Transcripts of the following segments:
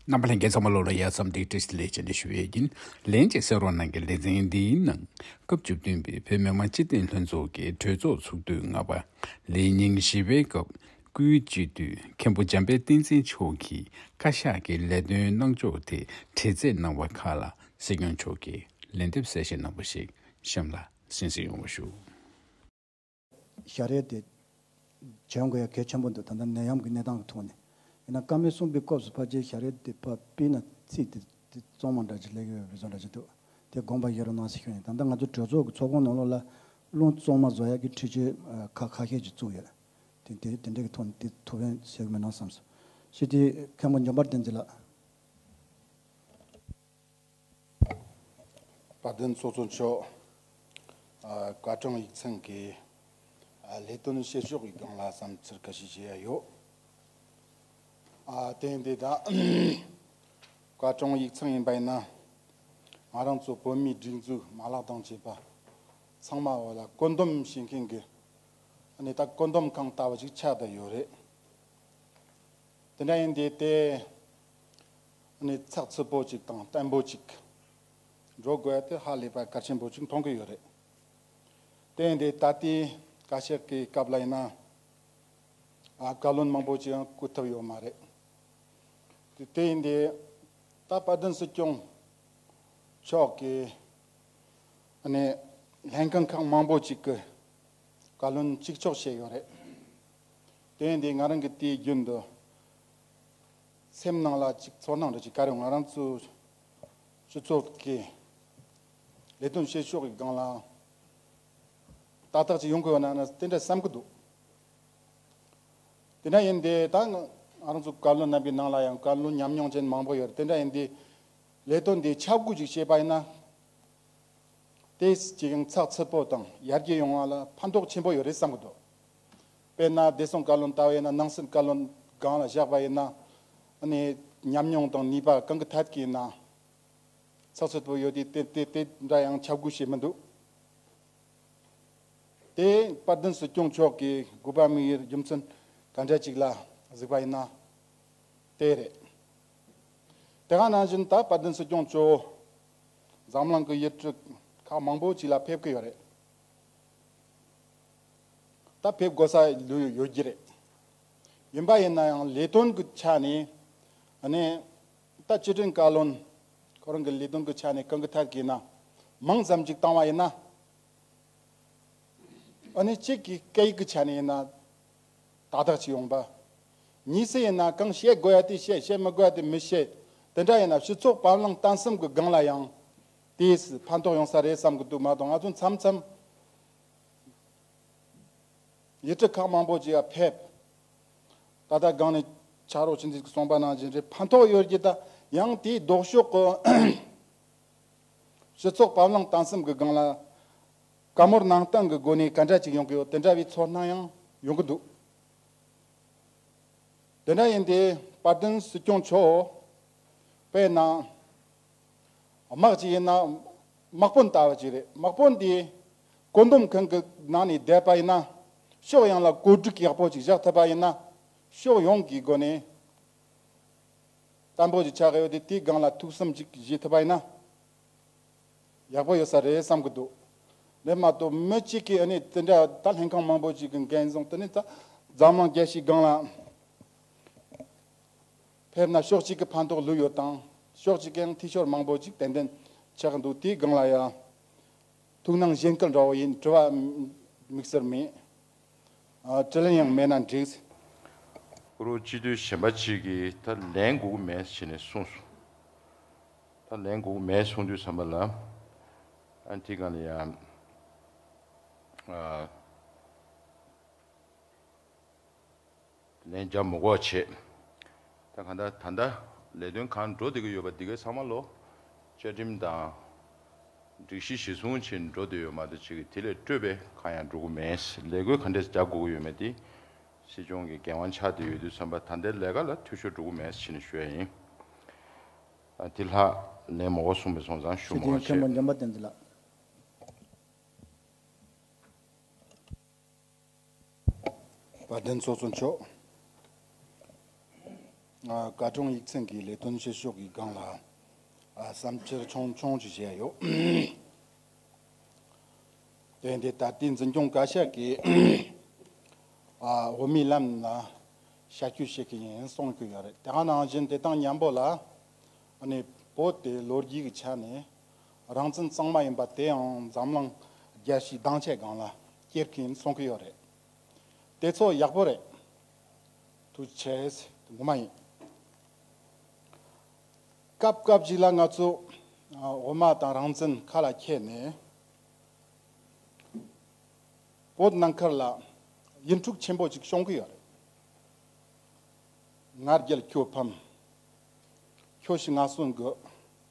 རྣམ་པ་ལྷན་རྒྱས་ཚང་མ་ལོ་ལ་ཡར་འཚམས་འདེགས་སྐྲིས་ལེགས་བྱས་ནས་ཞུ་ཡས་ཀྱིན་ལན་ཅིག་གསལ་རོགས་གནང་གི་ལེ་ཚན་འདིའི་ནང་སྐབས་བཅུ་བདུན་པའི་བོད་མི་མང་སྤྱི་བདེ་ལྷན་ཚོགས་ཀྱི་གྲོས་ཚོགས་ཚུགས་དུས་ལྔ་པ་ལས་ཉིན་བཞི་པའི་སྐབས་སྐུའི་སྤྱི་འཐུས་མཁན་པོ་འཇམ་དཔལ་བསྟན་འཛིན་མཆོག་གིས་བཀའ་ཤག་གི་ལས་དོན་གནང་ཕྱོགས་དེ་དྲི་རྩད་གནང་བ་ཁག་ལ་སྲིད་སྐྱོང་མཆོག་གིས་ལན་འདེབས་གསལ་བཤད་གནང་བ་ཞིག་གཤམ་ལ་གསན་གཟིགས་ཡོང་བ་ཞུ། ཞྭ་རས་དེ་བྱོན་དགོས་ཡ་གལ་ཆེན་པོ་འདུག་ད་ལྟ་ནད་ཡམས་ཀྱི་གནས་སྟངས་ཀྱི་ཐོག་ནས་ཡིན་ན་ཀ་མེད་གསུམ་པའི་སྐབས་སུ་ཕ་རྗེས་ཞྭ་རས་དེ་ཕ་སྤིན་ལ་བརྩིས་ཏེ་དེ་བཙོང་མ་འདྲ་ཅིག་ལེགས་ཡོད་པའི་བུ་བཙོང་འདྲ་ཅིག་འདུག་དེ་དགོངས་པ་ཡོད་རུང་ནང་སེ་ཤོར་ཡིན་ད་ལྟ་ང་ཚོའི་གྲོས་ཚོགས་ཀྱི་ཚོགས་ཁོངས་ནང་ལོག་ལ་རླུང་བཙོང་མ་བཟོ་ཡག་གི་འཁྲིད་ཆོས་ཁག་ཁ་ཤས་ཅིག་བཙུགས་ཡོད་དེ་དེ་དེ་འདྲས་ཀྱི་ཐོག་ནས་དེ་ཐུགས་ཕན་བྱེད་གི་མིན་ནོ་བསམས་སོ། ཞི་བདེའི་མཁན་པོ་འཇམ་དཔལ་བསྟན་འཛིན་ལགས། བཀའ་བསྟན་གཙོ་གཙོ་མཆོག་བཀའ་དྲང་ཡིག་ཚང་གི་ལས་དོན་བཤད་ཕྱོགས་ཀྱི་སྒང་ལ་བསམ་ཚུལ་ག་ཤེད་བྱས་ཡ་ཡོད། དེང་དེ་དག་བཀའ་དྲང་ཡིག་ཚང་ཡིན་པ་ཡིན་ན་ང་རང་ཚོ་བོད་མིའི་སྒྲིག་འཛུགས་མ་ལག་དང་བཅས་པ་ཚང་མ་འོ་ལ་བཀོད་འདོམ་བྱེད་མཁན་གྱི་གནས་དང་བཀོད་འདོམ་ཁང་ལྟ་བུ་ཞིག་ཆགས་བསྡད་ཡོད་རེད། དེ་འདྲ་ཡིན་དེ་ལྟའི། གནས་ཚགས་ཚུད་པོ་ཅིག་དང་བརྟན་པོ་ཅིག་འགྲོ་དགོས་དེ་ཧ་ལས་པ་གལ་ཆེན་པོ་ཅིག་མཐོང་གི་ཡོད་རེད་དེ་འདི་ད་ལྟའི་བཀའ་ཤག་གི་སྐབས་ལ་ཡིན་ན་བཀའ་བློན་མང་པོ་ཅིག་བསྐོས་ཐུབ་ཡོད་མ་རེད་དེ་ཡིན་དེ་ད་དཔལ་ལྡན་སྲིད་སྐྱོང་མཆོག་གི་གནས་ལྷན་ཁང་ཁག་མང་པོ་ཅིག་གི་བཀའ་བློན་གཅིག་ཆོག་བྱས་ཡོད་རེད་དེ་འདི་ང་རང་གི་དུས་རྒྱུན་དུ། སེམས་ནང་ལ་ཅིག་ཚོར་སྣང་འདྲ་ཅིག་ག་རེ་ང་རང་ཚོའི་སྤྱི་ཚོགས་ཀྱི་ལས་དོན་བྱེད་ཕྱོགས་ཀྱི་སྒང་ལ་ཏག་ཏག་ཅིག་ཡོང་དགོས་ན་ནི་དེ་འདྲ་བསམ་གྱི་འདུག་དེ་འདྲ་ཡིན་དེ་ད་ང་རང་ཚོའི་བཀའ་བློན་རྣམ་པའི་ནང་ལ་ཡང་བཀའ་བློན་ཉམས་མྱོང་ཅན་མང་པོ་ཡོད་དེ་འདྲ་ཡིན་དེ་ལས་དོན་འདི་ཆ་བགོས་ཅིག་བྱས་པ་ཡིན་ན་དེ་ཅིག་ཡང་ཚགས་ཚུད་པོ་དང་ཡར་རྒྱས་ཡོང་བ་ལ་ཕན་ཐོགས་ཆེན་པོ་ཡོད་རེད་བསམ་གྱི་འདུག། དཔེར་ན་བདེ་སྲུང་བཀའ་བློན་ལྟ་བས་ན་སྣང་སྲིད་བཀའ་བློན་སྒང་ལ་བཞག་པ་ཡིན་ན། ནི། ཉམས་མྱོང་དང་ནུས་པ་གང་གི་ཐད་ཀྱི་ཡིན་ནའང་ཚགས་ཚུད་པོ་ཡོད་དུས་དེ་དེ་འདྲ་ཡང་ཁྱབ་སྒུག་བྱེད་མི་འདུག་དེ། དཔར་བདུན་སྲིད་སྐྱོང་མཆོག་གིས་དགུ་པ་དམིགས་ཡུལ་རྒྱུ་མཚན་ག་འདྲ་ཅིག་ལ་གཟིགས་པ་ཡིན་ན། དེ་རེད། དེ་ག་ནང་བཞིན་ད་དཔར་བདུན་སྲིད་སྐྱོང་མཆོག། འཛམ་གླིང་གི་ཡུལ་གྲུ་ཁག་མང་པོ་ཅིག་ལ་ཕེབས་ཀྱི་ཡོད་རེད། ད་ཕེབས་དགོས་ས་ལོས་ཡོད་ཀྱི་རེད། ཡིན་པ་ཡིན་ན་ཡང་ལས་དོན་གྱི་ཆ་ནས་ནི། ད་སྤྱི་དོན་བཀའ་བློན་ཁོ་རང་གི་ལས་དོན་གྱི་ཆ་ནས་གང་གི་ཐད་ཀྱིས་ན་མང་ཙམ་ཅིག་བཏང་བ་ཡིན་ན། འོ་ནི་གཅིག་གིས་སྐད་ཡིག་གི་ཆ་ནས་ཡིན་ན་དག་དག་ཅིག་ཡོང་པ། གཉིས་སུ་ཡིན་ན་གང་བཤད་དགོས་ཡ་དེ་བཤད་བཤད་མི་དགོས་ཡ་དེ་མི་བཤད་དེ་འདྲ་ཡིན་ན་སྤྱི་ཚོགས་བར་ལངས་སྟངས་སེམས་ཀྱི་སྒང་ལ་ཡང་དེས་ཕན་ཐོགས་ཡོང་ས་རེད་བསམ་གྱི་འདུག་མ་གཏོགས་ང་ཚོ་མཚམས་མཚམས། ཡི་གྲུ་ཁག་མང་པོ་ཅི་ཡང་ཕེབས། ད་ལྟ་སྒང་ནས་ཕྱག་རོགས་ཕྱིན་ཚུལ་གྱི་གསུངས་པ་ནང་བཞིན་རེད་ཕན་ཐོགས་ཡོད་ཀྱི་ད་ཡང་དེའི་ལྡོག་ཕྱོགས་ཀྱི། སྤྱི་ཚོགས་བབ་བརླང་བཏང་སེམས་ཀྱི་སྒང་ལ། དཀའ་མོར་ནང་བསྟན་གྱི་སྒོ་ནས་ག་འདྲ་ཅིག་ཡོང་གི་ཡོད་དེ་འདྲ་བའི་ཚོར་སྣང་ཡང་ཡོང་གི་འདུག་དེ་འདྲ་ཡིན་དེ་དཔལ་ལྡན་སྲིད་སྐྱོང་མཆོག་པས་ནང་དམག་ཅིག་ཡིན་ན། དམག་དཔོན་ལྟ་བུ་ཅིག་རེད། དམག་དཔོན་དེས་བཀོད་འདོམས་ཁང་གི་ནང་ནས་བསྡད་པ་ཡིན་ན། ཕྱོགས་ཡོངས་ལ་བཀོད་སྒྲིག་ཡག་པོ་ཅིག་བཞག་ཐུབ་པ་ཡིན་ན། ཕྱོགས་ཡོངས་ཀྱི་སྒོ་ནས་བརྟན་པོ་ཞིག་ཆགས་ཡོད་དེ་དེའི་སྒང་ལ་ཐུགས་བསམ་ཅིག་བཞེས་ཐུབ་པ་ཡིན་ན། ཡག་པོ་ཡོད་ས་རེད་བསམ་གི་འདུག་དེ་མ་གཏོགས་མི་གཅིག་གིས་འདི་འདྲ་ད་ལྷན་ཁང་མང་པོ་ཅིག་གི་འགན་བཟུང་དེ་ནས་ད་འཛམ་གླིང་རྒྱལ་སྤྱིའི་སྒང་ལ། ཕེབས་ན་ཤོག་ཅིག་གི་ཕན་ཐོག་ལོས་ཡོད་དང་ཤོག་ཅིག་གིའང་ཐིག་ཤོར་མང་པོ་ཅིག་ཏན་ཏན་ཆགས་ཀྱི་འདུག་དེའི་སྒང་ལ་ཡང། ཐུགས་སྣང་གཞན་སྐད་འདྲ་བོ་ཡིན་དྲི་བ་དམིགས་བསལ་མེད། དྲི་ལན་ཡང་མེད་ན་འགྲིགས། ཀུ་རུ་སྤྱི་འཐུས་གཞན་པ་ཅིག་གིས་ད་ལན་སྒུག་གི་མེད་ཞེས་ནས་གསུངས་སོང། ད་ལན་སྒུག་གི་མེད་གསུངས་དུས་བསམ་པ་ལ། ཨ་དེའི་སྒང་ལ་ཡང། ལན་བརྒྱ་མོ་འགོག་བྱེད། ད་ག་ད་ད་ད་ལས་དོན་གང་འགྲོ་བསྡད་ཀྱི་ཡོད་པ་འདི་གའི་ཚང་མ་ལོ། བཅའ་ཁྲིམས་དང། སྒྲིག་གཞི་གཞི་བཟུང་བྱེད་འགྲོ་བསྡད་ཡོད་མ་རེད་བྱེད་ཀྱི་དེ་ལས་སྤྲོས་པས་གང་ཡང་འགྲོ་གི་མེད། ལས་བགོས་ག་འདྲས་རྒྱག་དགོས་ཀྱི་ཡོད་མེད་དེ། སྲིད་སྐྱོང་གི་འགན་དབང་ཆགས་བསྡད་ཡོད་དུས་བསམ་པ་ད་ལྟའི་ལས་ཀ་ལ་འཐུས་ཤོར་འགྲོ་གི་མེད་བྱེད་ནས་ཞུ་ཡ་ཡིན། དེ་ལྷག་ལན་མོ་འགོག་གསུངས་པས་སོང་ཙང་ཞུ་སྲིད་མོ་དོན་འགའ་མཁན་བྱེད། པོ་འཇམ་པ་བསྟན་འཛིན་ལགས། བ་དན་ཚོགས་གཙོ་མཆོག། དགའ་སྐྱོང་ཡིག་ཚང་གི་ལས་དོན་བྱེད་ཕྱོགས་ཀྱི་སྒང་ལ་བསམ་འཆར་ཆུང་ཆུང་ཞིག་བཤད་ཡོད། དེ་འདི་ད་ལྟའི་འཛིན་སྐྱོང་བཀའ་ཤག་གིས་འོས་མི་རྣམས་ལ་ཞལ་སྐྱོད་བྱེད་ཀྱི་ཡིན་གསུངས་ཀྱི་ཡོད་རེད། དེ་ག་ནང་བཞིན་དེ་དང་མཉམ་པོ་ལ་བོད་དེ་ལོ་རྒྱུས་ཀྱི་ཆ་ནས་རང་བཙན་གཙང་མ་ཡིན་པ་དེའང་འཛམ་གླིང་རྒྱལ་སྤྱིའི་སྡང་ཆའི་སྒང་ལ་སྐྱེལ་གིན་སོང་གི་ཡོད་རེད། དེ་ཚོ་ཡག་པོ་རེད། དུ་བྱས། ངོ་མ་ཡིན། སྐབས་སྐབས་ཅིག་ལ་ང་ཚོ་འོ་མ་དང་རང་བཙན་ཁ་ལ་ཁྱེར་ནས། བོད་ནང་ཁར་ལ་ཡིད་འཁྲུག་ཆེན་པོ་ཅིག་བྱུང་གི་ཡོད་རེད། ང་རྒྱལ་ཁྱོད་ཕམ། ཁྱོད་ཤི་ང་གསོན་དགོས།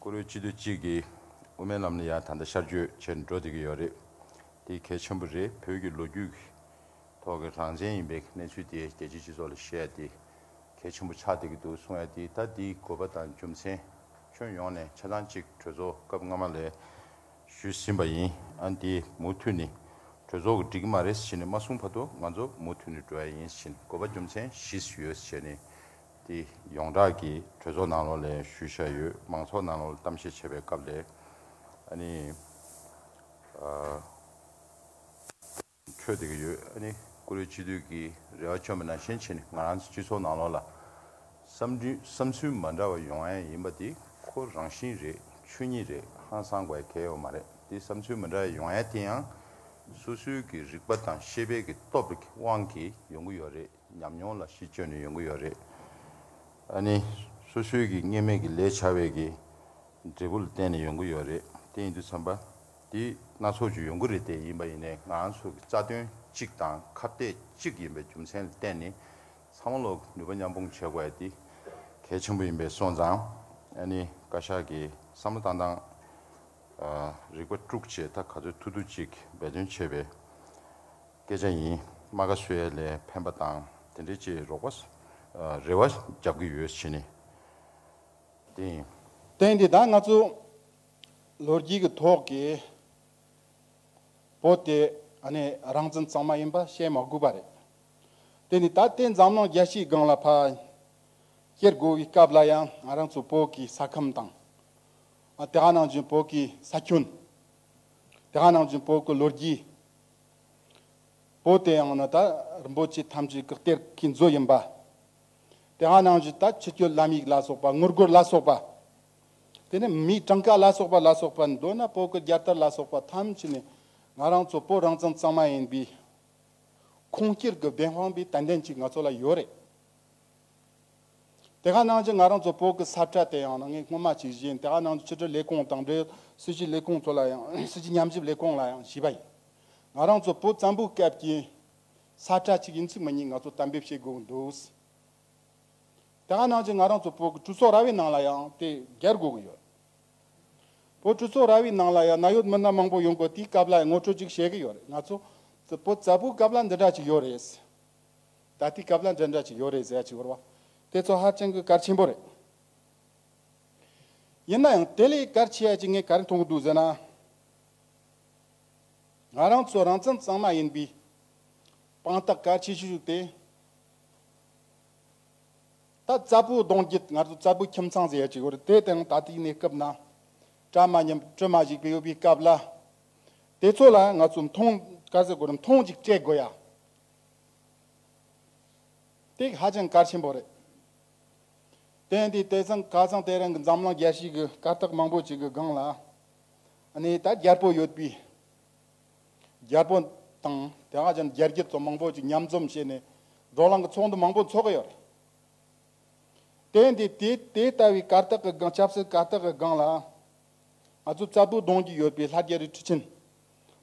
ཀུ་རུའི་སྤྱི་འཐུས་གཅིག་གིས་དབུ་མའི་ལམ་ནི་ཡང་ད་ལྟ་ཤར་བསྐྱོད་བྱེད་འགྲོ་སྡད་ཀྱི་ཡོད་རེད། དེ་གལ་ཆེན་པོ་རེད་བོད་ཀྱི་ལོ་རྒྱུས་ཀྱི་ཐོག་གི་རང་བཙན་ཡིན་པའི་གནས་ཚུལ་དེ་རྒྱལ་སྤྱིའི་སྤྱི་ཚོགས་ལ་བཤད་ཡ་དེ་གལ་ཆེན་པོ་ཆགས་སྡད་ཀྱི་འདུག་གསུང་ཡ་དེ་ད་དེའི་དགོས་པ་དང་རྒྱུ་མཚན་ཁྱོན་ཡོངས་ནས་ཆ་ཚང་གཅིག་གྲོས་ཚོགས་སྐབས་སྔ་མ་ལས་ཞུས་ཟིན་པ་ཡིན་ཨང་དེ་མུ་མཐུད་ནི་གྲོས་ཚོགས་ཀྱི་འགྲིག་གི་མ་རེད་ཟེར་ནི་མ་གསུང་བར་དུ་ང་ཚོ་མུ་མཐུད་ནི་འགྲོ་ཡ་ཡིན་ཕྱིན་དགོས་པ་རྒྱུ་མཚན་བཞིས་ཡོད་ཟེར་ནི་དེ་ཡོངས་གྲགས་ཀྱི་གྲོས་ཚོགས་ནང་ལོགས་ལས་ཞུ་བཞག་ཡོད་མང་ཚོགས་ནང་ལོགས་ལ་གཏམ་བཤད་བྱེད་པའི་སྐབས་ལས་ཨ་ནི་འཕྲོད་བསྡད་ཀྱི་ཡོད་ཨ་ནི་ཀུ་རེ་སྤྱི་འཐུས་ཀྱི་རེ་བ་བཅོམ་པ་ནང་བཞིན་བྱས་ནས་ང་རང་ཚོའི་སྤྱི་ཚོགས་ནང་ལོགས་ལ་བསམ་འདུན་བསམ་ཚུལ་མ་འདྲ་བ་ཡོང་ཨེ་ཡིན་པ་དེ་ཁོ་རང་བཞིན་རེད་ཆོས་ཉིད་རེད་ཧང་སང་བའི་གལ་ཡོད་མ་རེད་དེ་བསམ་ཚུལ་མ་འདྲ་བ་ཡོང་ཨེ་དེ་ཡང་སོ་སོའི་གི་རིག་པ་དང་ཤེས་དཔལ་གྱི་སྟོབས་ཀྱི་དབང་གིས་ཡོང་གི་ཡོད་རེད། ཉམས་མྱོང་ལ་གཞི་བཅོལ་ནས་ཡོང་གི་ཡོད་རེད། ཨ་ནི། སོ་སོའི་གི་གཉེར་མས་གི་ལས་བྱ་བའི་གི་འབྲས་བུ་ལ་བརྟེན་ནས་ཡོང་གི་ཡོད་རེད་དེ་ཡིན་དུས་བསམ་པ་དེ་སྣ་ཚོགས་ཅིག་ཡོང་གི་རེད་དེ་ཡིན་པ་ཡིན་ནས་ང་ཚོ་གི་རྩ་དོན་གཅིག་དང་ཁ་གཏད་གཅིག་ཡིན་པའི་རྒྱུ་མཚན་ལ་བརྟེན་ནས་ཚང་མ་ལོག་ནུས་པ་མཉམ་སྤུངས་བྱེད་དགོས་དེ་གལ་ཆེན་པོ་ཡིན་པས་སོང་ཙང་ཨ་ནི་བཀའ་ཤག་གི་བསམ་བློ་བཏང་སྟངས་རིག་པ་དཀྲུགས་བྱེད་ད་ག་ཚོད་ཐུག་ཐུག་ཅིག་འབད་བརྩོན་བྱེད་པའི། སྐད་ཆ་ཡིན། རྨ་ཁ་སོས་ལས་ཕན་པ་དང་དེ་འདྲའི་ཅི་རོགས་པ། རེ་བ་རྒྱབ་གི་ཡོད་བྱས་ནས་དེ་ཡིན། བསྟན་དེ་དག་ང་ཚོ་ལོ་རྒྱུས་ཀྱི་ཐོག་གི་བོད་དེ་ནི་རང་བཙན་གཙང་མ་ཡིན་པ་བཤད་མ་དགོས་པ་རེད། དེ་ནི་ད་ལྟའི་འཛམ་གླིང་རྒྱལ་སྤྱིའི་སྒང་ལ་ཕར་སྐྱེལ་དགོས་པའི་སྐབས་ལ་ཡང་ང་རང་ཚོ་བོད་ཀྱི་ས་ཁམས་དང། དེ་ག་ནང་བཞིན་བོད་ཀྱི་ས་ཁྱོན། དེ་ག་ནང་བཞིན་བོད་ཀྱི་ལོ་རྒྱུས། པོ་དེ་ཡང་ན་ད་རིན་པོ་ཆེ་ཐམས་ཅད་བཀག་སྟེར་མཁན་མཛོད་ཡིན་པ། དེ་ཧ་ནང་བཞིན་ད་ཕྱི་སྐྱོད་བླ་མིག་ལ་སོགས་པ་དངུལ་སྒོར་ལ་སོགས་པ། དེ་ནས་མིའི་གྲངས་ཀ་ལ་སོགས་པ་ལ་སོགས་པ་མདོར་ན་པོ་ཀི་རྒྱལ་དར་ལ་སོགས་པ་ཐམས་ཅད་ནི་ང་རང་ཚོ་བོད་རང་བཙན་གཙང་མ་ཡིན་པའི་ཁུངས་སྐྱེལ་གྱི་བདེན་དཔང་པའི་དད་འདན་ཅིག་ང་ཚོ་ལ་ཡོད་རེད། དེ་ག་ནང་བཞིན་ང་རང་ཚོ་བོད་ཀྱི་ས་ཁྲ་དེ་ཡང་ན་ངས་སྔོན་མ་ཇི་བཞིན་དེ་ག་ནང་བཞིན་ཕྱི་དྲིལ་ལས་ཁུངས་དང་འབྲེལ་ཡོད་སྲིད་ཇུས་ལས་ཁུངས་ཚོ་ལ་ཡང་སྲིད་ཇུས་ཉམས་ཞིབ་ལས་ཁུངས་ལ་ཡང་ཞུས་པ་ཡིན། ང་རང་ཚོ་བོད་བཙན་པོའི་སྐབས་ཀྱི་ས་ཁྲ་གཅིག་ཡིན་ཚུལ་མི་ཉིད་ང་ཚོ་གཏན་འབེབས་བྱེད་དགོས་འདུག། དེ་ག་ནང་བཞིན་ང་རང་ཚོ་བོད་ཀྱི་གྲུ་ཚོགས་ར་བའི་ནང་ལ་ཡང་དེ་གར་དགོས་ཀྱི་ཡོད། བོད་གྲུ་ཚོགས་ར་བའི་ནང་ལ་ཡང་ན་ཡོད་མི་སྣ་མང་པོ་ཡོང་དགོས་དེའི་སྐབས་ལ་ཡང་ངོ་སྤྲོད་ཅིག་བྱེད་ཀྱི་ཡོད་རེད་ང་ཚོ་བོད་བཙན་པོའི་སྐབས་ལ་འདི་འདྲ་ཅིག་ཡོད་རེད། ད་ལྟའི་སྐབས་ལ་འདྲ་འདྲ་ཅིག་ཡོད་རེད་ཟེར་ཡ་ཅིག་བོར་བ་དེ་ཚོ་ཧ་ཅང་གི་གལ་ཆེན་པོ་རེད། ཡིན་ན་ཡང་དེ་ལས་གལ་ཆེ་བ་ཅིག་ངས་ག་རེ་མཐོང་གི་འདུག་ཟེར་ན། ང་རང་ཚོ་རང་བཙན་གཙང་མ་ཡིན་པའི་དཔང་རྟགས་གལ་ཆེ་ཤོས་ཤིག་དེ། ད་རྩྭ་ཕུའི་གདོང་བརྒྱུད་ང་ཚོ་རྩྭ་ཕུའི་ཁྱིམ་ཚང་ཟེར་ཡ་ཅིག་ཡོད་རེད་དེ་དེའང་ད་ལྟའི་གནས་སྐབས་ན་གྲ་མ་ཉམས་སྤྲུལ་མ་ཞིག་པའི་ཡོད་པའི་སྐབས་ལ། དེ་ཚོ་ལ་ང་ཚོ་མཐོང་ག་ཟེར་དགོས་རེད་མཐོང་ཅིག་སྤྲད་དགོས་ཡ་སྟེགས་ཧ་ཅང་གལ་ཆེན་པོ་རེད། དེ་འདི་དེ་ཙང་ག་ཙང་དེ་རང་གི་འཛམ་གླང་རྒྱལ་སྤྱིའི་གི་གར་སྟེགས་མང་པོ་ཅིག་གི་སྒང་ལ་ནི་ད་རྒྱལ་པོ་ཡོད་པའི་རྒྱལ་པོ་དང་དེ་ཧ་ཅང་རྒྱལ་གྱི་ཚོ་མང་པོ་ཅིག་མཉམ་འཛོམས་བྱས་ནས་འགྲོ་ལམ་གི་ཚོགས་འདུ་མང་པོ་འཚོགས་ཀྱི་ཡོད་རེད། དེ་འདི་དེ་དེ་ལྟ་བུའི་གར་སྟེགས་གི་སྒང་ཆབ་སྲིད་གར་སྟེགས་གི་སྒང་ལ་ང་ཚོ་རྩ་སྤུ་སྡོང་གི་ཡོད་པའི་ལྷ་རྒྱལ་རི་ཁྲི་ཆེན།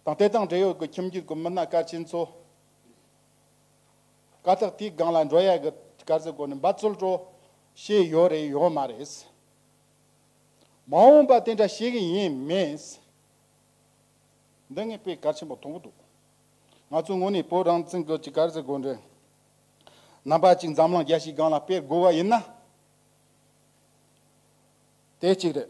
དང་དེ་དང་འབྲེལ་ཡོད་ཀྱི་ཁྱིམ་རྒྱུད་ཀྱི་མི་སྣ་སྐར་ཆེན་ཚོ། ཀ་སྟག་དེའི་སྒང་ལ་འབྲོག་ཡལ་གྱི་སྐར་རྩི་བསྐོར་ནས་འབའ་ཚུལ་སྤྲོ། ཞེས་ཡོད་རེད་ཡོད་མ་རེད། མ་འོངས་པ་དེ་འདྲ་ཤེས་གི་ཡིན་མེད། འདི་ངས་དཔེ་གལ་ཆེན་པོ་མཐོང་གི་འདུག་ང་ཚོའི་ངོས་ནས་བོད་རང་བཙན་གྱི་སྐར་རྩི་བསྐོར་འདྲའི་རྣམ་པ་ཅིག་འཛམ་གླིང་རྒྱལ་སྤྱིའི་སྒང་ལ་སྤེལ་དགོས་པ་ཡིན་ན། དེ་གཅིག་རེད།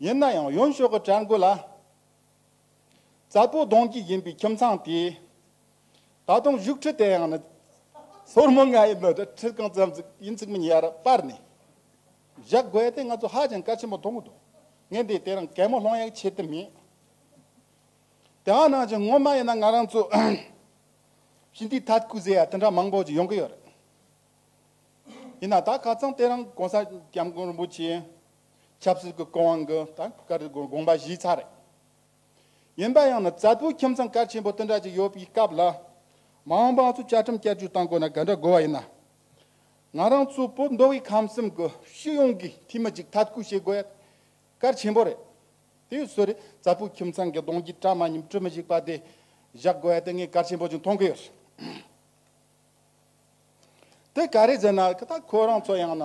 ཡིན་ན་ཡང་ཡུམ་ཤོག་གི་བྲན་དགུ་ལ། རྩ་སྤུ་གདོང་གཅིག་ཡིན་པའི་ཁྱིམ་ཚང་དེས། ད་དུང་བཞུགས་ཁྲི་དེ་ཡང་ནི། སོར་མོ་ལྔ་ཡི་ནི་དེ་ཁྲི་གང་ཙམ་ཙིག་ཡིན་ཚིག་མི་ཉེར་སྤར་ནས་བཞག་དགོས་དེ་ང་ཚོ་ཧ་ཅང་གལ་ཆེན་པོ་མཐོང་གི་འདུག་ངས་འདི་དེ་རིང་གད་མོ་སློང་ཡག་བྱེད་དུ་མེད། དེའང་ནང་བཞིན་ངོ་མ་ཡིན་ན་ང་རང་ཚོ། ཞི་འདིའི་ཐད་ཀུ་ཟེ་ཡ་དེ་འདྲ་མང་པོ་ཅིག་ཡོང་གི་ཡོད་རེད། ཡིན་ན་ད་ག་ཚང་དེ་རིང་གོང་ས་སྐྱབས་མགོན་རིན་པོ་ཆེ། ཆབ་སྲིད་ཀྱི་སྐུ་དབང་གི་དགོངས་པ་གཞི་ཚགས་རེད། ཡིན་པ་ཡང་ན་རྩ་བོད་ཁྱིམ་ཚང་གལ་ཆེན་པོ་དེ་འདྲ་ཅིག་ཡོད་པའི་སྐབས་ལ། མ་འོངས་པའང་ཚོ་བཅའ་ཁྲིམས་བསྐྱར་བཅོས་གཏང་དགོས་ན་ག་འདྲ་དགོས་བ་ཡིན་ན། ང་རང་ཚོ་བོད་མདོ་དབུས་ཁམས་གསུམ་གྱི་སྤྱི་ཡོངས་ཀྱི་འཐུས་མི་གཅིག་ཐབས་བཀོད་བྱེད་དགོས་ཡ་གལ་ཆེན་པོ་རེད། དེ་ཡོད་སྲོལ་རེད་རྩ་བོད་ཁྱིམ་ཚང་གི་གདོང་རྒྱུད་བཀྲ་མ་ཉིམ་དཀྲི་མི་ཞིག་པ་དེ་བཞག་དགོས་ཡ་དེ་ངས་གལ་ཆེན་པོ་ཅིག་མཐོང་གི་ཡོད། དེ་ག་རེ་ཟེར་ན་ད་ཁོ་རང་ཚོ་ཡང་ན།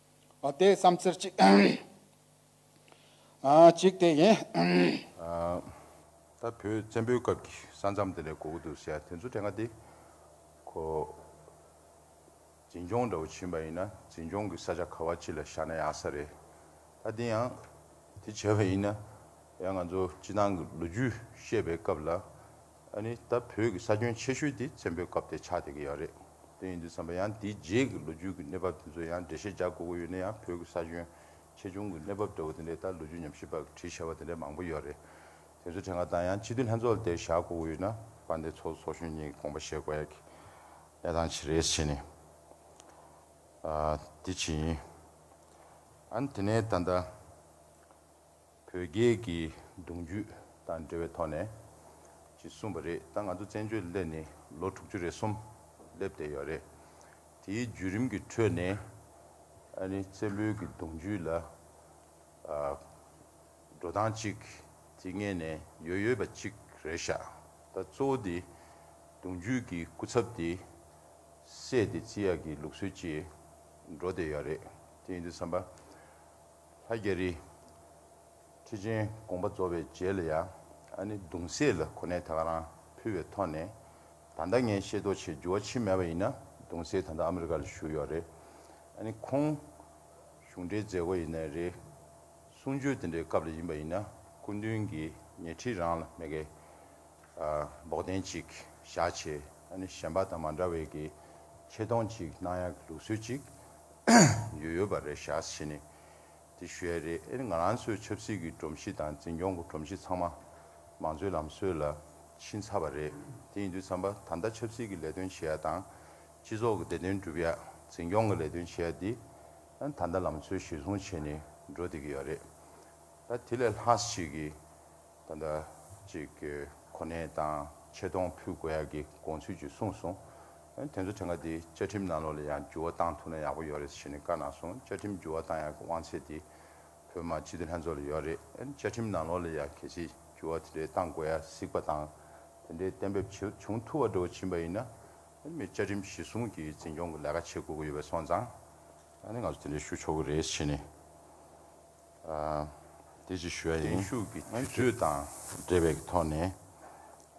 དེ་བསམ་ཚུལ་གཅིག་གཅིག་དེ་ཡིན། ད་བོད་བཙན་པོའི་སྐབས་ཀྱི་ས་མཚམས་དེ་ལས་གོ་གི་འདུག་ཟེར་ཡ་དེ་ཚོ་དེ་ག་དེ། ཁོ། འཛིན་སྐྱོང་འདྲ་བོ་བྱིན་པ་ཡིན་ན་འཛིན་སྐྱོང་གི་ས་ཆ་ག་བ་ཅི་ལ་བཞག་ན་ཡག་ས་རེད། ད་དེ་ཡང། དེ་བྱས་པ་ཡིན་ན། ཡང་ང་ཚོ་སྤྱི་བཏང་གི་ལོ་རྒྱུས་བཤད་པའི་སྐབས་ལ། ཨ་ནི་ད་བོད་ཀྱི་ས་ཁྱོན་ཆེ་ཤོས་དེ་བཙན་པོའི་སྐབས་དེ་ཆགས་བསྡད་ཀྱི་ཡོད་རེད་དོན་ཡིན་དུས་བསམ་པ་ཡང་དེའི་རྗེས་ཀྱི་ལོ་རྒྱུས་ཀྱི་གནས་བབ་དེ་ཚོ་ཡང་འགྲེལ་བཤད་རྒྱག་དགོས་དགོས་ཡོད་ན་ཡང་བོད་ཀྱི་ས་ཁྱོན་ཆེ་ཆུང་གི་གནས་བབ་འདྲ་བོ་དེ་འདྲའི་ལྟར་ལོ་རྒྱུས་ཉམས་ཞིབ་པ་གྱི་བྲིས་བྱ་བ་དེ་འདྲ་མང་པོ་ཡོད་རེད་དེ་ཚོའི་ཐད་ང་དང་ཡང་སྤྱི་འཐུས་ལྷན་ཚོགས་དེར་བཞག་དགོས་དགོས་ཡོད་ན་བ་འདི་ཚོགས་གཙོ་གཞོན་གཉིས་ཀྱི་དགོངས་པ་བཞེས་དགོས་ཡག་གི་གནས་སྟངས་ཇི་རེད་བྱས་ནས་ཨ་དེ་བྱས་ཡིན་ཨ་ནི་དེ་ནས་ད་ལྟ། བོད་རྒྱལ་གྱི་གདུང་རྒྱུད་དང་འབྲེལ་བའི་ཐོག་ནས་ཀྱིས་གསུངས་པ་རེད་ད་ང་ཚོ་བཙན་བྱོལ་སླེབས་ནས་ལོ་དྲུག་ཅུ་རེ་གསུམ་སླེབས་བསྡད་ཡོད་རེད་དེའི་བརྒྱུད་རིམ་གྱི་ཁྲོད་ནས་ཨ་ནི་བཙན་པོའི་གི་གདུང་རྒྱུད་ལ་འགྲོ་སྟངས་གཅིག་དེ་ངེས་ནས་ཡོད་ཡོད་པ་གཅིག་རེད་ཤག་ད་གཙོ་བོ་དེ་གདུང་རྒྱུད་གི་སྐུ་ཚབ་དེ་བསད་དེ་རྩིས་ཡག་གི་ལུགས་སྲོལ་གྱིས་འགྲོ་བསྡད་ཡོད་རེད་དེ་ཡིན་དུས་བསམ་པ་ལྷ་རྒྱལ་རི། ཁྲི་ཆེན་དགོངས་པ་རྫོགས་པའི་རྗེས་ལ་ཡང་ཨ་ནི་གདུང་སྲས་ལ་གོ་གནས་ད་ག་རང་ཕུལ་བའི་ཐོག་ནས། ད་ལྟ་ངས་ཤེས་རྟོགས་བྱས་འགྱུར་བ་ཕྱིན་མེད་པ་ཡིན་ན་གདུང་སྲས་ད་ལྟ་ཨ་མི་རི་ཀ་ལ་བཞུགས་ཡོད་རེད། ཨ་ནི་ཁོང་གཞུང་འབྲེལ་མཛད་སྒོ་ཡིན་ནའི་རེད། གསུང་ཆོས་དེ་འདྲའི་སྐབས་ལ་ཡིན་པ་ཡིན་ན་སྐུ་མདུན་གྱིས་ཉེ་འཁྲིས་རང་ལ་མེད་སྐད། འབོག་གདན་གཅིག་བཞག་ཆེ་ཨ་ནི་གཞན་པ་དང་མ་འདྲ་བའི་གི་ཆེ་མཐོང་གཅིག་སྣང་ཡག་གི་ལུགས་སྲོལ་གཅིག་ཡོད་ཡོད་པ་རེད་བཞག་ཆེ་ནི་དེ་ཞུ་ཡག་རེད་ཨ་ནི་ང་རང་ཚོའི་ཆབ་སྲིད་གི་སྒྲོམ་གཞི་དང་འཛིན་སྐྱོང་གི་སྒྲོམ་གཞི་ཚང་མ་མང་གཙོའི་ལམ་སྲོལ་ལ་ཕྱིན་ཚར་བ་རེད་དེ་ཡིན་དུས་བསམ་པ་ད་ལྟ་ཆབ་སྲིད་གི་ལས་དོན་བྱེད་ཡག་དང་སྤྱི་ཚོགས་གི་བདེ་དོན་སྒྲུབ་ཡག་འཛིན་སྐྱོང་གི་ལས་དོན་བྱེད་ཡག་འདི་ཨ་ནི་ད་ལྟ་ལམ་སྲོལ་གཞིར་བཟུང་བྱས་ནི་འགྲོ་བསྡད་ཀྱི་ཡོད་རེད་ད་དེ་ལས་ལྷག་ཅིག་གི། ད་ལྟ་ཅིག་གི་གོ་གནས་དང་ཆེ་མཐོང་ཕུལ་དགོས་ཡག་གི་དགོངས་ཚུལ་ཅིག་གསུངས་སོང། དེ་ཚོ་དེང་ག་འདི་བཅའ་ཁྲིམས་ནང་ལོག་ལ་ཡང་འགྱུར་བ་བཏང་ཐུབ་ན་ཡག་པོ་ཡོག་རེད་ཞེས་ནས་བཀའ་གནང་སོང་བཅའ་ཁྲིམས་འགྱུར་བ་བཏང་ཡག་གི་དབང་ཚད་དེ་བོད་མ་སྤྱི་འཐུས་ལྷན་ཚོགས་ལ་ཡོག་རེད་བཅའ་ཁྲིམས་ནང་ལོག་ལ་ཡང་གལ་ཆེ་འགྱུར་བ་དེ་འདྲའི་བཏང་དགོས་ཡག་གཟིགས་པ་དང་དེ་འདྲའི་གཏན་འབེབས་བྱེད་བྱུང་ཐུབ་བ་འདྲ་བོ་བྱིན་པ་ཡིན་ན་ཨ་ནི་མི་བཅའ་ཁྲིམས་གཞི་བཟུང་གི་འཛིན་སྐྱོང་གི་ལས་ཀ་བྱེད་དགོས་ཀི་ཡོད་པའི་སོང་ཙང་ཨ་ནི་ང་ཚོ་དེ་འདྲའི་ཞུ་ཆོག་གི་རེད་ཞེས་ནས། དེ་ཅིག་ཞུ་བ་ཡིན། བརྟན་བཞུགས་ཀྱི་དུས་ཚོད་དང་འབྲེལ་བའི་ཐོག་ནས།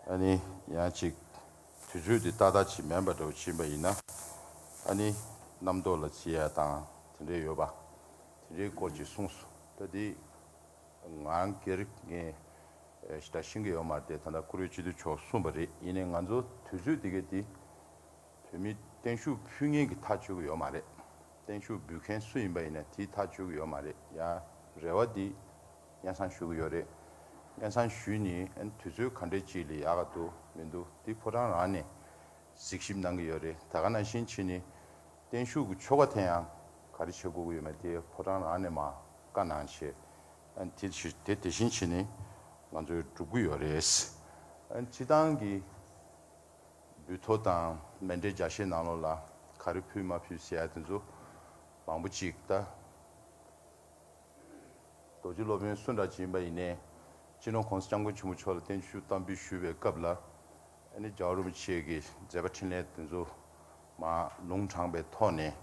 ཨ་ནི་ཡང་ཅིག་དུས་ཚོད་དེ་ཏག་ཏག་ཅིག་མེད་པ་འདྲ་བོ་ཕྱིན་པ་ཡིན་ན། ཨ་ནི་རྣམ་རྟོག་ལ་བརྩི་ཡ་དང་དེ་འདྲས་ཡོད་པ། དེ་འདྲའི་སྐོར་ཅིག་གསུངས་སོ། ད་དེ་ང་སྒེར་ངས་ད་ཤེས་ཀྱི་ཡོད་མ་རེད་དེ་ད་ལྟ་ཀུ་རེ་སྤྱི་འཐུས་མཆོག་གསུངས་པ་རེད་ཡིན་ནའི་ང་ཚོ་དུས་ཚོད་དེ་གའི་དེ། བོད་མིས་བརྟན་བཞུགས་ཕུལ་ངེས་ཀྱི་ཐག་གཅོད་ཀྱི་ཡོད་མ་རེད། བརྟན་བཞུགས་འབུལ་མཁན་སུ་ཡིན་པ་ཡིན་ན་དེའི་ཐག་གཅོད་ཀྱི་ཡོད་མ་རེད་ཡ། རེ་བ་འདི། དབྱེན་གསང་ཞུ་གི་ཡོད་རེད། དབྱེན་གསང་ཞུས་ནི་ཨན་དུས་ཚོད་ག་འདྲའི་ཅིག་ལས་ཡག་ག་འདུག་མི་འདུག་འདི་ཕོ་བྲང་རང་ནས་གཟིགས་ཞིབ་གནང་གི་ཡོད་རེད་ད་ག་ན་ཕྱིན་ཆིད་ནི། བརྟན་བཞུགས་ཀྱི་ཆོ་ག་དེ་ཡང་ག་རེ་བྱེད་དགོས་ཀྱི་ཡོད་མེད་དེ་ཕོ་བྲང་རང་ནས་མ་བཀའ་གནང་ཕྱིར། ཨན་དེ་ཕྱིར་དེ་དེ་བཞིན་ཕྱིན་ནི་ང་ཚོས་སྒྲུབ་ཀྱི་ཡོད་རེད། ཨན་སྤྱི་བཏང་གི། འབུད་ཐོ་དང་མེ་འདྲེ་བརྒྱ་ཤས་ནང་ལོགས་ལ་ག་རེ་ཕུལ་མ་ཕུལ་ཟེར་ཡ་དེ་ཚོ་མང་པོ་ཅིག་ད། རྡོ་རྗེ་སློབ་དཔོན་སུ་འདྲ་ཅིག་ཡིན་པ་ཡིན་ནས་སྤྱི་ནོར་ཁོང་ས་སྐྱབས་མགོན་ཆེན་པོ་མཆོག་ལ་བརྟན་བཞུགས་གཏམ་འབུལ་ཞུ་བའི་སྐབས་ལ་ཨ་ནེ་ཇའོ་རུ་མི་བཅས་ཀྱི་མཛད་པ་འཕྲིན་ལས་དེ་ཚོ་མ་ལུང་དྲངས་པའི་ཐོག་ནས་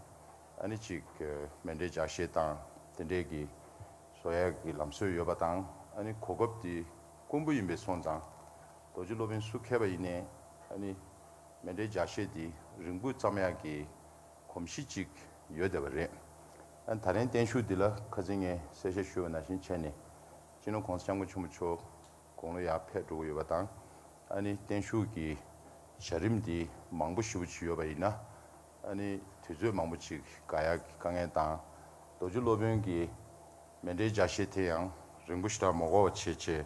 ཨ་ནེ་ཅིག་མེ་འདྲེ་བརྒྱ་ཤས་དང་དེ་འདྲས་ཀྱི་བཟོ་ཡ་གི་ལམ་སྲོལ་ཡོད་པ་དང་ཨ་ནེ་གོ་སྐབས་དེ་རྐུན་པོ་ཡིན་པའི་སོང་ཙང། རྡོ་རྗེ་སློབ་དཔོན་སུ་མཁས་པ་ཡིན་ནས་ཨ་ནི། མེ་འདྲའི་ཇག་ཤེས་འདི་རིང་པོ་ཙམ་ཡག་གི། གོམས་གཤིས་ཅིག་ཡོད་བསྡད་པ་རེད། ཨ་ད་རན་བརྟན་བཞུགས་འདི་ལ་ཁ་ཚིག་ངས་གསལ་བཤད་ཞུ་བ་ན་བཞིན་བྱས་ནས། སྤྱི་ནོར་གོང་ས་སྐྱབས་མགོན་ཆེན་པོ་མཆོག་དགུང་ལོ་ཡར་ཕེབས་འགྲོ་གི་ཡོད་པ་དང། ཨ་ནི་བརྟན་བཞུགས་ཀྱི་བྱ་རིམ་འདི་མང་པོ་ཞིབ་པོ་བྱེད་ཡོད་པ་ཡིན་ན། ཨ་ནི་དུས་ཚོད་མང་པོ་ཅིག་དགའ་ཡག་གི་དཀའ་ངལ་དང། རྡོ་རྗེ་སློབ་དཔོན་གྱི། མེ་འབྲས་བརྒྱ་ཤེས་དེ་ཡང་རིང་པོ་ཞིག་ལ་མོ་གོ་བ་བྱེད་ཅེས་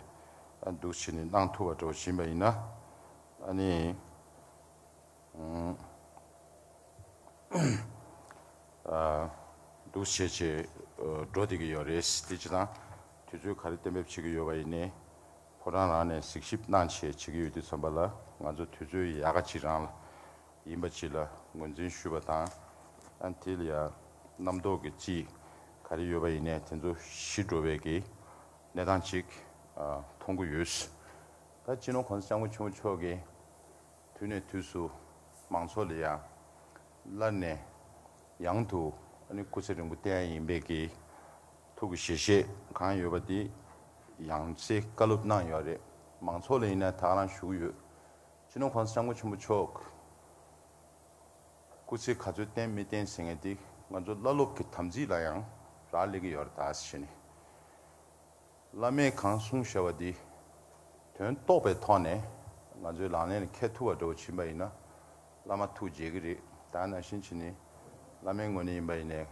འདུག་ཕྱིས་ནས་གནང་ཐུབ་པ་འགྲོ་བཞིན་པ་ཡིན། འདུག་བྱེད་ཅེས་འགྲོ་བསྡད་ཀྱི་ཡོད་རེད། དེ་ཅི་དང་དུས་ཚོད་ག་རེ་གཏན་འབེབས་བྱེད་ཀྱི་ཡོད་པ་ཡིན། ཕོ་བྲང་རང་ནས་གཟིགས་ཞིབ་གནང་ཆེད་བྱེད་ཀྱི་ཡོད་དུས་བསམ་པ་ལ་ང་ཚོ་དུས་ཚོད་ཡག་ག་ཅིག་རང་ལ་ཡིན་པ་སྤྱི་ལ་ངོས་འཛིན་ཞུས་པ་དང། ཨན་ཐི་ལི་ཡ་རྣམ་རྟོག་གི་སྤྱི་ག་རེ་ཡོད་པ་ཡིན་ནས་དེ་ཚོ་ཤི་འགྲོ་བས་ཀྱི་གནས་སྟངས་ཅིག་མཐོང་གི་ཡོད། ད་སྤྱི་ནོར་གོང་ས་སྐྱབས་མགོན་ཆེན་པོ་མཆོག་གི་དུས་ནས་དུས་སུ་མང་ཚོགས་ལ་ཡང་ལར་ནས་ཡང་དུ་ཨ་ནི་སྐུ་ཚེ་རིང་པོ་བསྟན་ཡ་ཡིན་པས་ཀྱི་ཐུགས་ཀྱི་ཞལ་བཞེས་གང་ཡོད་པ་དེ་ཡང་ཚེ་བཀའ་སློབ་གནང་ཡོད་རེད་མང་ཚོགས་ལ་ཡིན་ན་དག་ལངས་ཞུ་གི་ཡོད། སྤྱི་ནོར་ཁང་སང་མགོ་ཆེན་པོ་མཆོག་སྐུ་ཚེ་ག་ཚོད་བརྟན་མི་བརྟན་ཟེར་ངེས་དེ་ང་ཚོ་བླ་སློབ་ཀྱི་དམ་ཚིག་ལ་ཡང་རག་ལས་ཀྱི་ཡོད་ར་དྭ་ཞེས་ནི། བླ་མས་གང་གསུངས་ཞེས་པ་དེ་དོན་རྟོགས་པའི་ཐོག་ནས་ང་ཚོའི་ལག་ལེན་ལ་ཁད་ཐུ་བ་འདྲ་བོ་བྱིན་པ་ཡིན་ན་བླ་མ་ཐུགས་དགྱེས་ཀྱི་རེད་དྭ་ནང་བཞིན་གྱི་ནི་བླ་མའི་ངོས་ནས་ཡིན་པ་ཡིན་ནས་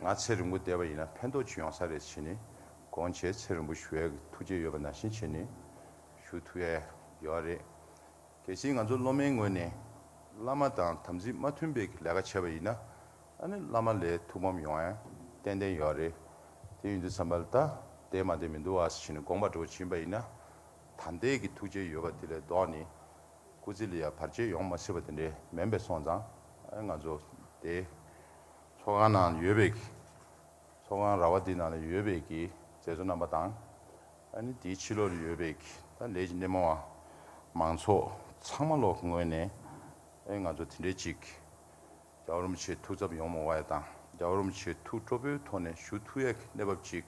ང་ཚེ་རིང་པོ་བསྡད་པ་ཡིན་ན་ཕན་ཐོགས་ཅི་ཡོང་ས་རེད་ཞེས་ནི་དགོངས་བྱས་ཚེ་རིང་པོ་ཞུ་བའི་ཐུགས་དགྱེས་ཡོད་པ་ནང་བཞིན་གྱི་ནི། ཞུ་ཐུབ་ཡ་ཡོད་རེད། གལ་སྲིད་ང་ཚོ་སློབ་མའི་ངོས་ནས་བླ་མ་དང་དམ་ཚིག་མ་མཐུན་པའི་ལས་ཀ་བྱས་པ་ཡིན་ན་ཨ་ནི་བླ་མ་ལས་ཐུགས་ཕམ་ཡོང་ཡ་ཏན་ཏན་ཡོད་རེད། དེ་ཡིན་དུས་བསམ་པར་ད་ལྟའི་མ་དེ་མི་འདུག་ཨ་ཞེས་ནས་དགོངས་པ་འགྲོ་བྱིན་པ་ཡིན་ན་ད་འདས་ཀྱི་ཐུགས་རྗེ་ཡོད་པ་དེ་ལས་ལྡོག་ནས་སྐུ་ཚེ་ལ་ཡང་བར་ཆད་ཡོང་མ་སྲིད་པ་དེ་འདྲའི་མེད་པས་སོང་ཙང་ཨ་ང་ཚོ་དེ་ཚོགས་ཁང་ནང་ཡོད་པའི་ཚོགས་ཁང་ར་བ་དེ་ནང་ལ་ཡོད་པའི་གི་མཛད་གཙོ་རྣམ་པ་དང། ཨ་ནི་དེའི་ཕྱི་ལོགས་ཡོད་པའི་ད་ལས་ཀྱི་སྣེ་མོ་བ་མང་ཚོགས་ཚང་མ་ལོགས་ངོས་ནས་ཨེ་ང་ཚོ་དེ་འདྲའི་ཅིག་རྒྱ་རོམ་ཆེའི་ཐུགས་ཚབ་ཡོང་མོ་བ་ཡ་དང་རྒྱ་རོམ་ཆེའི་ཐུགས་སྤྲོ་པོའི་ཐོག་ནས་ཞུ་ཐུགས་ཡ་གི་གནས་བབ་ཅིག་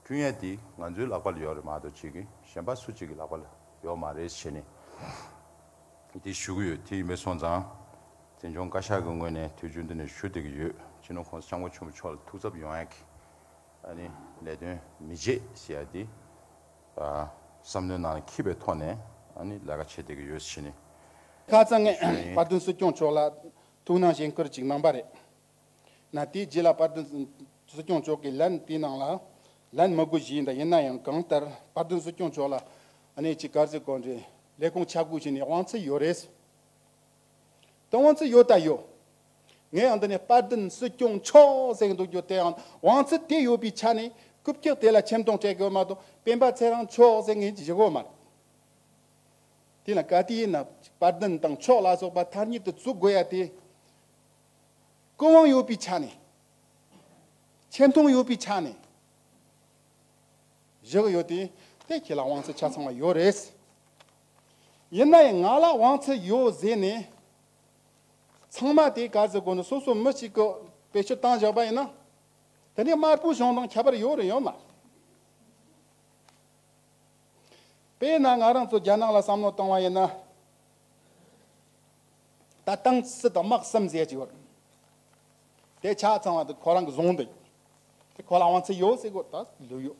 བསྐྲུན་ཡ་དེ་ང་ཚོའི་ལག་པ་ལ་ཡོག་རེད་མ་གཏོགས་ཅིག་གཞན་པ་སུ་ཅིག་གི་ལག་པ་ལ་ཡོག་མ་རེད་ཞེས་ནས་དེ་ཞུ་གི་ཡོད་དེ་ཡིན་པས་སོང་ཙང་བཙན་བྱོང་བཀའ་ཤག་གི་ངོས་ནས་དུས་རྒྱུན་དུ་ནས་ཞུ་བསྡད་ཀྱི་ཡོད་སྤྱི་ནོར་ཁོང་ས་སྐྱབས་མགོན་ཆེན་པོ་མཆོག་ལ་ཐུགས་ཚབ་ཡོང་ཡ་གི། ཨ་ནི་ལས་དོན་མི་བྱེད་ཟེར་ཡ་དེ། བསམ་བློའི་ནང་ལ་འཁྱིལ་པའི་ཐོག་ནས་ཨ་ནི་ལས་ཀ་བྱེད་བསྡད་ཀྱི་ཡོད་ཕྱིན། ཁ་རྩང་ངས་པར་དོན་སྲིད་སྐྱོང་མཆོག་ལ་ཐུགས་སྣང་བཞེས་འཁུར་ཅིག་གནང་པ་རེད། ན་དེའི་རྗེས་ལ་པར་དོན་སྲིད་སྐྱོང་མཆོག་གིས་ལན་དེའི་ནང་ལ་ལན་མ་གུ་བཞེས་འདུག་ཡིན་ན་ཡང་གང་ལྟར་པར་དོན་སྲིད་སྐྱོང་མཆོག་ལ་ཨ་ནི་ཅིག་དཀར་མཛེས་དགོན་པའི་ལས་ཁུངས་ཆ་བགོས་བྱས་ནས་དབང་ཚད་ཡོད་རེད། དོན་དབང་ཚུལ་ཡོད་ལྟ་ཡོད། ངས་ཡང་འདི་ནས་དཔལ་ལྡན་སྲིད་སྐྱོང་མཆོག་ཟེར་འདུག་རྒྱུ་དེའང་དབང་ཚུལ་དེ་ཡོད་པའི་ཆ་ནས་རྐུབ་ཀྱག་དེ་ལ་ཁྱིམ་སྟོང་སྤྲད་དགོས་མ་གཏོགས་སྤེན་པ་ཚེ་རང་མཆོག་ཟེར་ངེས་ཀྱི་ཞུ་གོ་མ་རེད། དེ་ལ་ག་དུས་ཡིན་ན་དཔལ་ལྡན་དང་མཆོག་ལ་སོགས་པ་མཐར་མྱུར་དུ་བཙུགས་དགོས་ཡ་དེ། ཀུན་དབང་ཡོད་པའི་ཆ་ནས། ཁྱིམ་སྟོང་ཡོད་པའི་ཆ་ནས། ཞུ་གི་ཡོད་དེ། དེ་ཁྱེད་ལ་དབང་ཚུལ་ཆ་ཚང་བ་ཡོད་རེད། ཡིན་ན་ཡང་ང་ལ་དབང་ཚད་ཡོད་ཟེར་ནས། ཚང་མ་དེ་ག་ཟེར་དགོས་ན་སོ་སོ་མི་གཅིག་གི་བེད་སྤྱོད་བཏང་བཞག་པ་ཡིན་ན། དེ་ནས་དམར་པོའི་གཞུང་དང་ཁྱད་པར་ཡོད་རེད་ཡོད་མ་རེད། དཔེར་ན་ང་རང་ཚོ་རྒྱ་ནག་ལ་བསམ་བློ་བཏང་བ་ཡིན་ན། ད་ཏང་སྲིད་དང་དམག་གསུམ་ཟེར་གྱི་ཡོད་རེད། དེ་ཆ་ཚང་བ་དེ་ཁོ་རང་གི་གཞུང་དེ་ཡིན། དེ་ཁོ་ལ་དབང་ཚད་ཡོད་ཟེར་དགོས་ད་ལོས་ཡོད།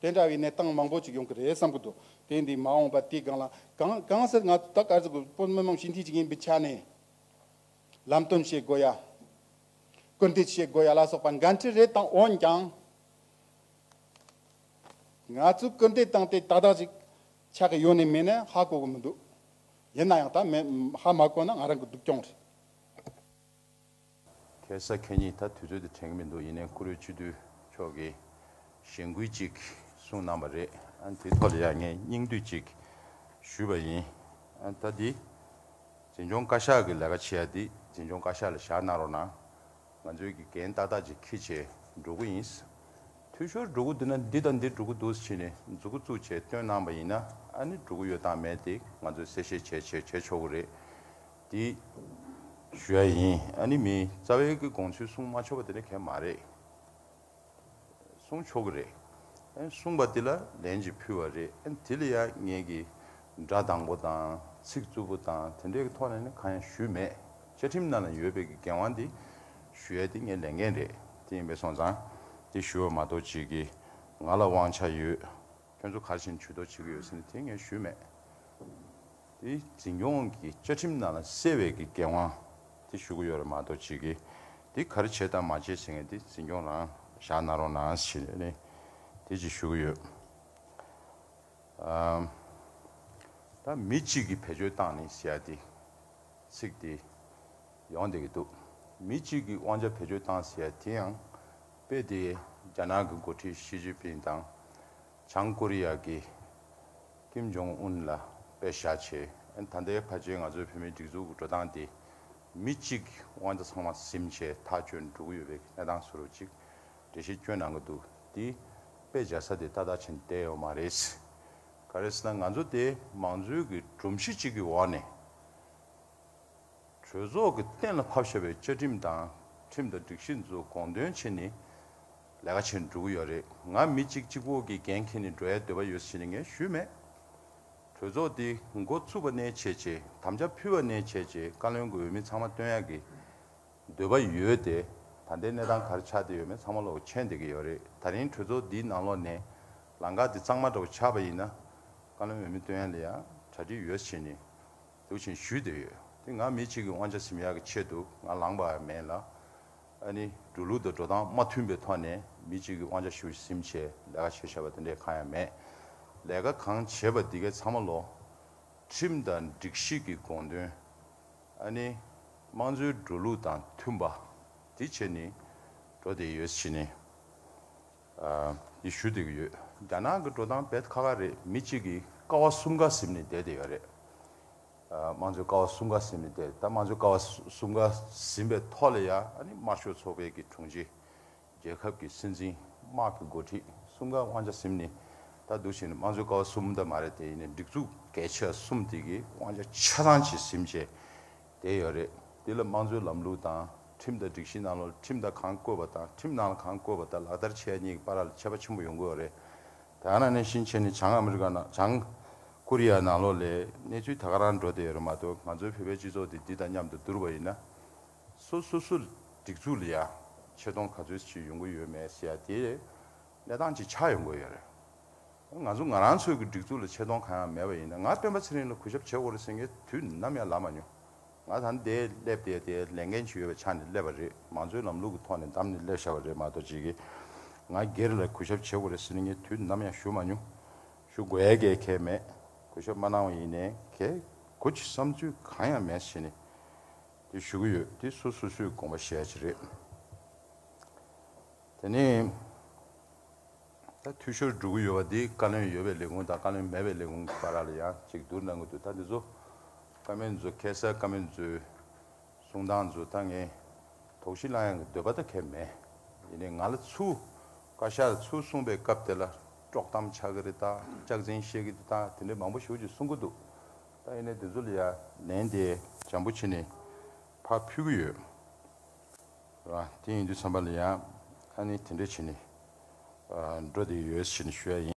དེ་འདྲ་བའི་གནས་སྟངས་མང་པོ་ཅིག་ཡོང་གི་རེད་བསམ་གི་འདུག་དེ་འདི་མ་འོངས་པ་དེའི་སྒང་ལ་གང་གང་ཟེར་ང་ད་གར་ཟེར་གི་པོ་མི་མང་ཞི་འཐིས་ཅིག་ཡིན་པའི་ཆ་ནས། ལམ་སྟོན་བྱེད་དགོས་ཡ། སྐུལ་འདེད་བྱེད་དགོས་ཡ་ལ་སོགས་པ་འགན་འཁྲི་རེ་དང་འོན་ཀྱང། ང་ཚོས་སྐུལ་འདེད་བཏང་སྟེ་ཏག་ཏག་ཅིག་ཆགས་ཀྱི་ཡོད་ནི་མིན་ནི་ཧ་གོ་གི་མི་འདུག་ཡིན་ན་ཡང་ད་མེད་ཧ་མ་གོ་ན་ང་རང་གི་སྡུག་གྱོང་རེད། གལ་སྲིད་ཁྱེད་ཉིད་ད་དུས་ཚོད་དེ་དྲན་གྱི་མི་འདུག་ཡིན་ནའི་ཁུ་རུའི་སྤྱི་འཐུས་མཆོག་གིས་གཞེན་སྐུལ་ཅིག་གསུངས་གནང་བ་རེད། དེའི་ཐོག་ལ་ཡང་ངས་སྙིང་བསྡུས་ཅིག་ཞུས་པ་ཡིན། ད་འདི་འཛིན་སྐྱོང་བཀའ་ཤག་གི་ལས་ཀ་བྱེད་ཡ་འདི་འཛིན་སྐྱོང་བཀའ་ཤག་ལ་བཞག་གནང་རོགས་གནང། ང་ཚོའི་དགེ་རྒན་ཏག་ཏག་ཅིག་ཁྱི་བྱས་འགྲོ་དགོས་ཡིན། འཐུས་ཤོར་འགྲོ་གི་འདུག་ན་འདི་དང་འདི་འགྲོ་གི་འདུག་ཅེས་ནས་མཛུ་གུ་བཙུགས་བྱས་བཏོན་གནང་བ་ཡིན་ན་ནི་འགྲོ་གི་ཡོད་དང་མེད་དེ་ང་ཚོས་གསལ་བཤད་བྱས་བྱས་བྱས་ཆོག་གི་རེད། དེ། ཞུ་ཡ་ཡིན། ཨ་ནི་མི། རྩ་བའི་གི་དགོངས་ཚུལ་གསུང་མ་ཆོག་པ་དེ་ནི་གལ་མ་རེད། གསུང་ཆོག་གི་རེད། གསུང་པ་དེ་ལ་ལན་ཅིག་ཕུལ་བ་རེད། དེ་ལ་ཡང་ངས་གི་སྒྲ་དང་པོ་དང་ཚིག་རྩུབ་པོ་དང་དེ་འདྲའི་གི་ཐོག་ནས་ནི་གང་ཡང་ཞུས་མེད། བཅའ་ཁྲིམས་ནང་ལ་ཡོད་པའི་གི་འགན་དབང་དེ་ཞུ་ཡ་དེ་ངས་ལེན་མཁན་རེད། དེ་ཡིན་པས་སོང་ཙང་དེ་ཞུ་བ་མ་གཏོགས་ཅིག་གི་ང་ལ་དབང་ཆ་ཡོད། ཁྱོད་ཚོ་ག་བཞིན་བྱུས་གཏོགས་བྱེད་ཀྱི་ཡོད་ཟེར་ནས་དེ་ངས་ཞུས་མེད། དེ་འཛིན་སྐྱོང་གི་བཅའ་ཁྲིམས་ནང་ལ་གསལ་བའི་གི་འགན་དབང་དེ་ཞུ་གི་ཡོད་རེད་མ་གཏོགས་ཅིག་གིས་དེ་གར་བྱས་དང་མ་བྱས་ཟེར་མཁན་དེ་འཛིན་སྐྱོང་རང་བཞག་གནང་རོགས་གནང་ཟེར་ནས་དེ་ཅིག་ཞུ་གི་ཡོད། ད་མི་གཅིག་གིས་བེད་སྤྱོད་བཏང་ནས་ཟེར་ཡ་དེ་ཚིག་དེ་ཡོང་བསྡད་ཀྱི་འདུག་མི་གཅིག་གིས་དབང་ཆ་བེད་སྤྱོད་བཏང་ཟེར་ཡ་དེ་ཡང་པའི་དེ་རྒྱ་ནག་གི་འགོ་ཁྲིད་ཞི་ཅིན་ཕིན་དང་བྱང་ཀོ་རི་ཡ་གི་ཀིམ་ཇོང་ཨུན་ལ་དཔེ་ཞྭ་བྱས། ད་ལྟའི་ཁ་ཆེའི་ང་ཚོའི་བོད་མིའི་སྒྲིག་འཛུགས་ཀྱི་འགྲོ་སྟངས་དེ། མི་གཅིག་དབང་ཆ་ཚང་མ་ཟིམ་བྱས་ཐག་གཅོད་འགྲོ་གི་ཡོད་པའི་གནས་སྟངས་སུ་རུ་གཅིག་འགྲེལ་བཤད་བསྐྱོན་གནང་གི་འདུག་དེ་དཔེ་བྱ་ས་དེ་ཏག་ཏག་བྱེད་བསྡད་ཡོད་མ་རེད། ག་རེ་ཟེར་ན་ང་ཚོ་དེ་མང་གཙོའི་གི་སྒྲོམ་གཞི་གཅིག་གི་འོག་ནས། གྲོས་ཚོགས་ཀྱི་གཏན་ལ་ཕབ་ཤོར་བའི་བཅའ་ཁྲིམས་དང་ཁྲིམས་དང་སྒྲིག་གཞི་འཛུགས་དགོངས་དོན་ཆེད་ནི་ལས་ཀ་བྱེད་འགྲོ་གི་ཡོད་རེད་ང་མི་གཅིག་གཅིག་པོ་གི་འགན་ཁྱེར་ནས་འགྲོ་ཡའི་འདོད་པ་ཡོད་ཟེར་ནས་ངས་ཞུས་མེད། གྲོས་ཚོགས་འདི་འགོ་བཙུགས་པ་ནས་བྱས་རྗེས་དམ་བཅའ་ཕུལ་བ་ནས་བྱས་རྗེས་བཀའ་བློན་གྱི་འོས་མི་ཚང་མ་བཏོན་ཡག་གི་འདོད་པ་ཡོད་དེ་ད་ལྟའི་གནས་སྟངས་གར་ཆགས་དེ་ཡོད་མེད་ཚང་མ་ལོག་མཆན་འདེབས་ཀྱི་ཡོད་རེད་ད་རིང་གྲོས་ཚོགས་འདིའི་ནང་ལོག་ནས་ལང་ཀ་འདི་གཙང་མ་འདྲ་བོ་ཆགས་པ་ཡིན་ན་བཀའ་བློན་འོས་མི་བཏོན་ཡག་ལ་ཡང་གྲ་སྒྲིག་ཡོད་ཟེར་ནས། ལུགས་བཞིན་ཞུས་འདོད་ཡོད། དེ་ང་མི་གཅིག་གི་དབང་ཆ་ཟིམ་ཡག་གི་ཆེད་དུ་ང་ལངས་པའང་མེད་ལ། ཨ་ནི་འགྲོ་ལུགས་དང་འགྲོ་སྟངས་མ་མཐུན་པའི་ཐོག་ནས་མི་གཅིག་གི་དབང་ཆ་ཞུ་ཟིམ་བྱས་ལས་ཀ་བྱས་ཤག་པ་དེ་འདྲས་གང་ཡང་མེད། ལས་ཀ་གང་བྱས་པ་འདི་གའི་ཚང་མ་ལོ། ཁྲིམས་དང་སྒྲིག་གཞི་གི་དགོངས་དོན། ཨ་ནི་དམངས་གཙོའི་འགྲོ་ལུགས་དང་མཐུན་པ། དེ་བྱས་ནི་འགྲོ་བསྡད་ཡོད་ཕྱིན། ཡིས་ཞུ་བསྡད་ཀྱི་ཡོད། རྒྱ་ནག་གི་འགྲོ་སྟངས་བེད་ཁ་ཁ་རེད་མི་གཅིག་གིས་ཀ་བ་གསུམ་ཀ་གཟིམ་ནས་བསྡད་དེ་ཡོད་རེད། དམངས་གཙོའི་ཀ་བ་གསུམ་ཀ་གཟིམ་ནས་བསྡད་ད་དམངས་གཙོའི་ཀ་བ་གསུམ་ཀ་གཟིམ་པའི་ཐོག་ལ་ཡ་ཨ་ནི་དམར་ཤོག་ཚོགས་པའི་གི་དྲུང་ཆེ། རྒྱལ་ཁབ་ཀྱི་སྲིད་འཛིན་དམག་གི་འགོ་ཁྲིད་གསུམ་ཀ་དབང་ཆ་གཟིམ་ནས་ད་སྡུག་བྱས་ནས་དམངས་གཙོའི་ཀ་བ་གསུམ་ད་མ་རེད་དེ་ཡིན་ནས་སྒྲིག་འཛུགས་གལ་ཆེ་བ་གསུམ་དེ་གི་དབང་ཆ་ཆ་ཚང་བྱས་གཟིམ་བྱས། དེ་ཡོད་རེད། དེ་ལ་དམངས་གཙོའི་ལམ་ལུགས་དང་ཁྲིམས་དང་སྒྲིག་གཞི་ནང་ལོ་ཁྲིམས་དང་གང་བཀོད་པ་དང་ཁྲིམས་ནང་ལ་གང་བཀོད་པ་དག་ལག་བསྟར་བྱས་གཉིས་ཀྱི་བར་ལ་ཁྱད་པ་ཆེན་པོ་ཡོང་གི་ཡོད་རེད། དེ་ཡང་ན་ནས་ཕྱིན་ཆད་ནས་བྱང་ཨ་མི་རི་ཀ་ནང་བྱང། ཀོ་རི་ཡའི་ནང་ལོགས་ལས་གནས་ཚུལ་ད་ག་རང་འགྲོ་བསྡད་ཡོད་རེད་མ་གཏོགས་ང་ཚོའི་བོད་པའི་སྤྱི་ཚོགས་དེ་འདི་དང་མཉམ་དུ་བསྡུར་བ་ཡིན་ན། སོ་སོ་སོའི་སྒྲིག་འཛུགས་ལ་ཡང་ཆེ་མཐོང་ག་ཚོད་ཅིག་ཡོང་གི་ཡོད་མེད་ཟེར་ཡ་དེ། གནས་སྟངས་ཅིག་ཆགས་ཡོང་གི་ཡོད་རེད། ང་ཚོ་ང་རང་ཚོའི་གི་སྒྲིག་འཛུགས་ལ་ཆེ་མཐོང་གང་ཡང་མེད་པ་ཡིན་ན་ང་སྟོན་པ་ཚེ་རིང་ལ་གུས་ཞབས་བྱེད་དགོས་རེད་ཟེར་མཁན་དུས་ནམ་ཡང་ལབ་མ་མྱོང། ང་ད་ནི་དེའི་སླེབས་དེའི་དེའི་ལས་འགན་ཇི་ཡོད་པ་ཆགས་ནས་སླེབས་པ་རེད་མང་གཙོའི་ལམ་ལུགས་ཀྱི་ཐོག་ནས་འདམས་ནས་སླེབས་ཤར་བ་རེད་མ་གཏོགས་ཇི་གི་ང་སྒེར་ལ་གུས་ཞབས་བྱེད་དགོས་རེད་ཟེར་མཁན་དུས་ནམ་ཡང་ཞུ་མ་མྱོང། ཞུ་དགོས་ཡས་ཀའི་ཁེལ་མེད། གུས་ཞབས་མ་གནང་བ་ཡིན་ནའི་ཁེལ་དགོས་ཀྱི་བསམ་ཚུལ་གང་ཡང་མེད་ཟེར་ནས་དེ་ཞུ་གི་ཡོད་དེ་སུ་སུ་སུའི་དགོངས་པ་ཞལ་གྱི་རེད། དེ་ནི། ད་འཐུས་ཤོར་འགྲོ་གི་ཡོད་པ་འདི་བཀའ་བློན་ཡོད་པའི་ལས་ཁུངས་དང་བཀའ་བློན་མེད་པའི་ལས་ཁུངས་ཀྱི་བར་ལ་ཡང་གཅིག་བསྡུར་གནང་གི་འདུག་ད་འདི་ཚོ་བཀའ་མོལ་མཛོད་མཁས་སར་བཀའ་མོལ་མཛོད། གསུང་སྟངས་མཛོད་ད་ངས་དོགས་གཞི་བསླང་ཡང་གི་འདོད་པ་ད་ཁེལ་མེད། ཡིན་ནའི་ང་ལ་ཚུལ་བཀའ་ཤག་ཚུལ་གསུངས་པའི་སྐབས་དེ་ལ་དཀྲོག་གཏམ་ཆགས་གི་རེད་ད་སྐྱག་རྫིང་བཤད་གི་འདུག་ད་དེ་འདྲའི་མང་པོ་ཞུ་ཅིག་གསུང་གི་འདུག་ད་ཡིན་ནའི་འདི་ཚོ་ལ་ཡང་ལན་དེ་འཇམ་པོ་བྱེད་ནས་ཕར་ཕུལ་གི་ཡོད། དེ་ཡིན་དུས་བསམ་པ་ལ་ཡང་ཁ་ནས་དེ་འདྲས་བྱས་ནས་འགྲོ་དེ་ཡོད་ཟེར་ནས་ཞུ་ཡ་ཡིན།